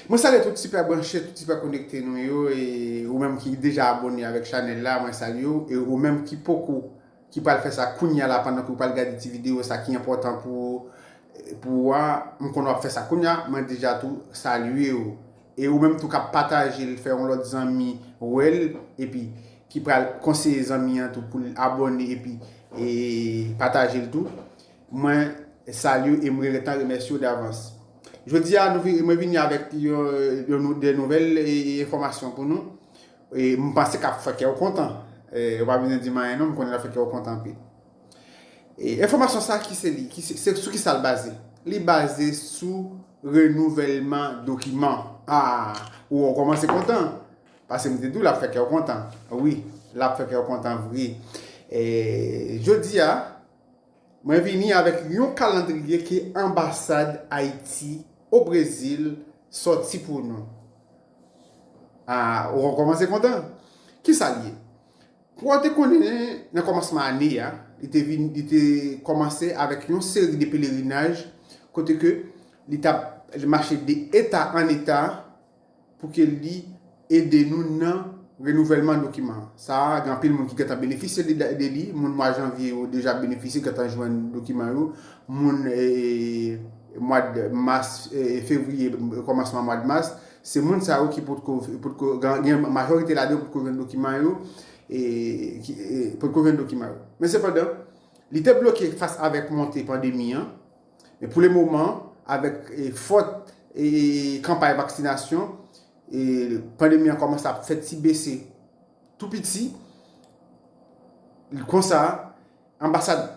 Mwen salye tout sipè branche, tout sipè konekte nou yo e ou menm ki deja abone avèk chanèl la mwen salye ou e ou menm ki poko ki pral fè sa kounya la pandan ke ou pral gade ti video sa ki enpòtan pou pou ou a m konnen wap fè sa kounya mwen deja tou salye ou e ou menm tou kap pataje l fè yon lòt zanmi wè l epi ki pral konseye zanmi an tou pou l abone epi e pataje l tou. Mwen salye w e m retan remèsye w davans. Jodi a nou vini mwen vini avèk yon nou de nouvèl e enfòmasyon pou nou. E m panse kap fè kè w kontan. E w pa bezwen di m anyen non m konnen lap fè kè w kontan anpil. E enfòmasyon sa ki se li? Se sou ki sa l baze? Li baze sou renouvèlman dokiman. A! Ou wè w kòmanse kontan. Pase m te di w lap fè kè w kontan. Wi, lap fè kè w kontan vre. E jodi a. Mwen vini avèk yon kalandriye ke anbasad Ayiti o Brezil sòti pou nou. A, ou va kòmanse kontan. Kisa li ye? Pou ou te konnen nan kòmansman ane a, li te vin, li te kòmanse avèk yon seri de pelerinaj kote ke li tap mache de eta an eta, pou ke li ede nou nan renouvèlman dokiman sa a. Gen anpil moun ki gentan benefisye de li. Moun mwa janvye yo deja benefisye, gentan jwenn dokiman yo. Moun mwad mas, fevriye, kòmansman mwad mas, se moun sa yo ki potko, potko, gen majorite ladan yo potko jwenn dokiman yo, potko jwenn dokiman yo. Men sepandan, li te bloke fas avèk monte pandemi an, E pou le moman, avèk fòt kanpay vaksinasyon, pandemi an kòmanse ap fè ti bese tou piti. Konsa, anbasad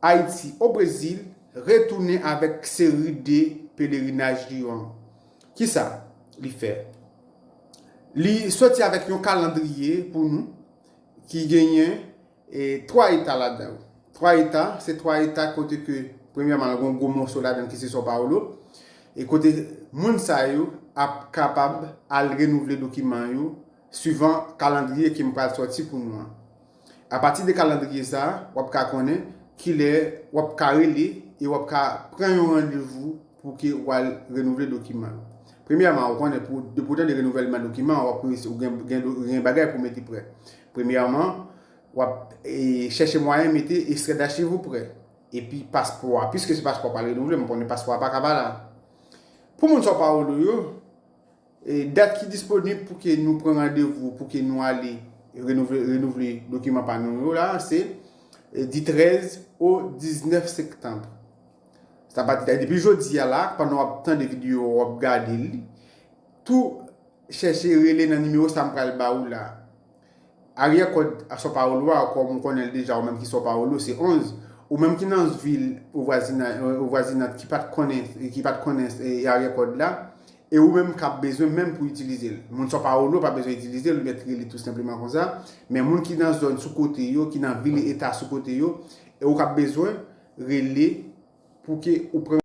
Ayiti o Brezil retounen avèk seri de pelerinaj li yo an. Ki sa li fè? Li soti avèk yon kalandriye pou nou ki genyen. E 3 eta ladan yo. 3 eta, se 3 eta kote ke premyèman l gon gwo moso ladan ki se São Paulo, e kote moun sa yo ap kapab al renouvle dokiman yo suivan kalandriye ke m pral sòti pou nou an. A pati de kalandriye sa, w ap ka konnen kilè w ap ka rele e w ap ka pran yon randevou pou ke w al renouvle dokiman yo. Premyèman, ou konnen pou depi w tande renouvèlman dokiman, w ap ou gen gen bagay pou mete prè. Premyèman, w ap chèche mwayen mete estrè dachiv ou prè, epi paspò a, piske se paspò a pa renouvle, mwen konnen paspò a pa ka pa la. Pou moun São Paulo yo, dat ki disponib pou ke nou pran randevou, pou ke nou ale renouvle dokiman pa nou yo la, se di 13 o 19 sektanb. Sa pa di, depi jodi a la, pandan w ap tande videyo, w ap gade li, tou Chèche rele nan nimewo sa m pral ba ou la. Aryè kòd São Paulo a, kòm ou konnen l deja ou menm ki São Paulo, se 11. Ou menm ki nan vil vwazinant ki pat konnen ki pat konnen aryè kòd la, e ou menm k ap bezwen menm pou itilize l. Moun São Paulo pa bezwen itilize l, ou jèt rele tou senpleman konsa. Men moun ki nan zòn sou kote yo, ki nan vil e eta sou kote yo, e ou k ap bezwen, rele pou ke ou pran.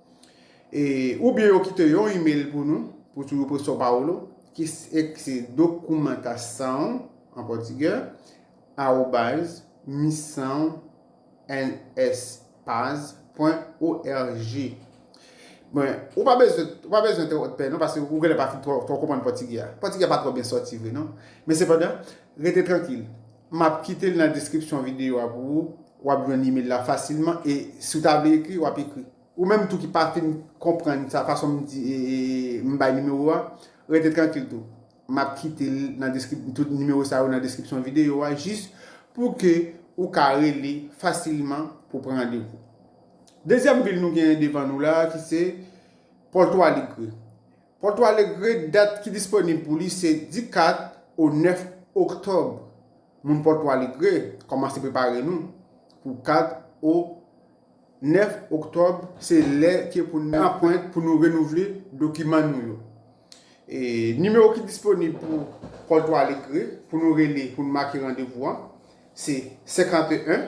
E, oubyen yo kite yon email pou nou, pou tudo por São Paulo, ki se documantação, an pòtigè, arobas, missão ns paz pwen org. Bon, ou pa bezwen, ou pa bezwen twòp pè non, paske ou genlè pa fin twò konprann pòtigè a. Pòtigè a pa twò byen sòti vre non. Men sepandan, rete trankil. M ap kite l nan deskripsyon videyo a pou ou, W ap jwenn imel la fasilman e si w ta vle ekri, w ap ekri. Ou menm tou ki pa fin konprann sa fason m di m bay nimewo a, rete trankil tou. M ap kite l nan deskripsyon, tout nimewo sa yo nan deskripsyon videyo a jis pou ke ou ka rele fasilman pou w pran randevou. Dezyèm vil nou gen devan nou la ki se Porto Alegre. Porto Alegre dat ki disponib pou li se di 4 o 9 oktòb. Moun Porto Alegre, kòmanse prepare nou pou 4 o 9 oktòb se lè ki pou nou anpwent pou nou renouvle dokiman nou yo. E nimewo ki disponib pou Porto Alegre pou nou rele pou nou make randevou an se 51.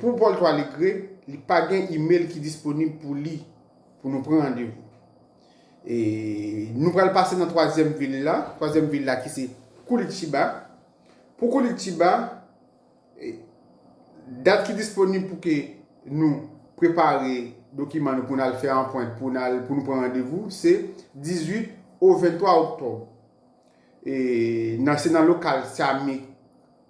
Pou Paul Toiligre, li pa gen email ki disponib pou li pou nou pran randevou. Nou pral pase nan twazyèm vil la, twazyèm vil la ki se Curitiba. Pou Curitiba, dat ki disponib pou ke nou prepare dokiman nou pou nou al fè anpwent, pou nou pran randevou, se 18 ou 23 oktòb. Se nan lokal Sami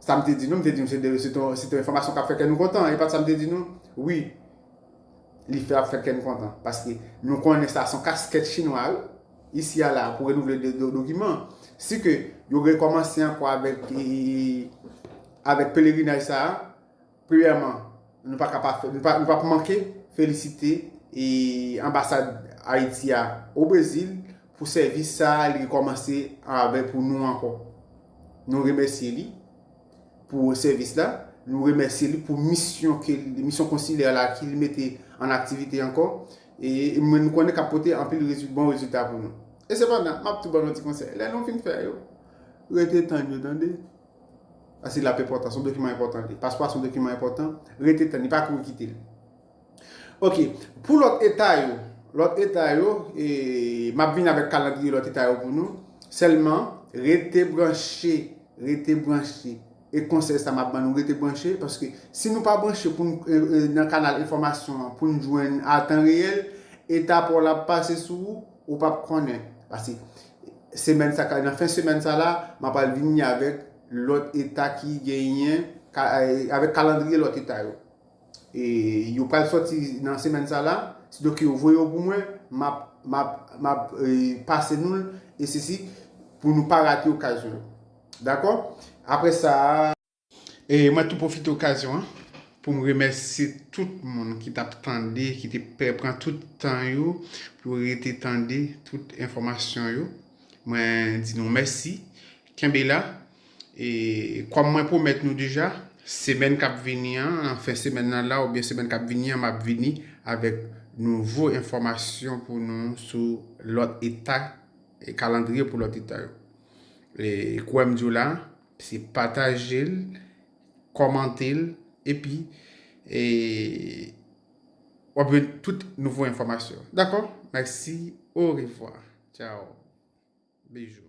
Sa m te di nou, m te di m se de se ton se te yon enfòmasyon k ap fè kè nou kontan, e pa t sa m te di nou? Wi, li fè ap fè kè n kontan, paske nou konnen sa se yon kaskèt chinwa wi, isi a la a, pou renouvle de do dokiman. Si ke yo rekòmanse ankò avèk e avèk pelerinaj sa a, Premyèman, nou pa ka pa fè, nou pa p manke felisite Anbasad Ayiti a o Brezil pou sèvis sa a li rekòmanse avè pou nou ankò. Nou remèsye li pou sèvis la, nou remèsye li pou misyon ke, misyon konsilè la ke li mete an aktivite ankò e mwen nou konnen k ap pote anpil rezil, bon rezilta pou nou. E sepandan, m ap tou ban nou yon ti konsèy, lè nou fin fè yo, rete tann yo tande. Asid la ap enpòtan, son dokiman enpòtan li. Paspò a son dokiman enpòtan, rete tann li, pa kouri kite li. Ok, pou lòt eta yo, lòt eta yo, e m ap vin avèk kalandriye lòt eta yo pou nou, sèlman rete branche, rete branche. E konsèy sa m ap ban nou, rete branche, paske si nou pa branche pou n nan kanal enfòmasyon an, pou n jwenn a tan reyèl, eta pa w la ap pase sou ou, ou p ap konnen. Pase, Semèn sa nan fen semèn sa la m apral vini avèk lòt eta ki genyen avèk kalandriye lòt eta yo e yo pral sòti nan semèn sa la sido ke yo voye yo pou mwen m ap m ap m ap pase nou l e sesi pou nou pa rate okazyon yo dakò aprè sa. E mwen tou pwofite okazyon an pou m remèsye tout moun ki t ap tande, ki te pè pran tout tan yo pou yo rete tande tout enfòmasyon yo. Mwen di nou mèsi. Kenbe la. E kòm mwen pwomèt nou deja, semèn k ap vini an, nan fen semèn nan la oubyen semèn k ap vini an m ap vini avèk nouvo enfòmasyon pou nou sou lòt eta e kalandriye pou lòt eta yo. E kouwè m di w la, Se pataje l, kòmante l epi w ap jwenn tout nouvo enfòmasyon. Dakò? Mèsi, orevwa, tchaw, bejou.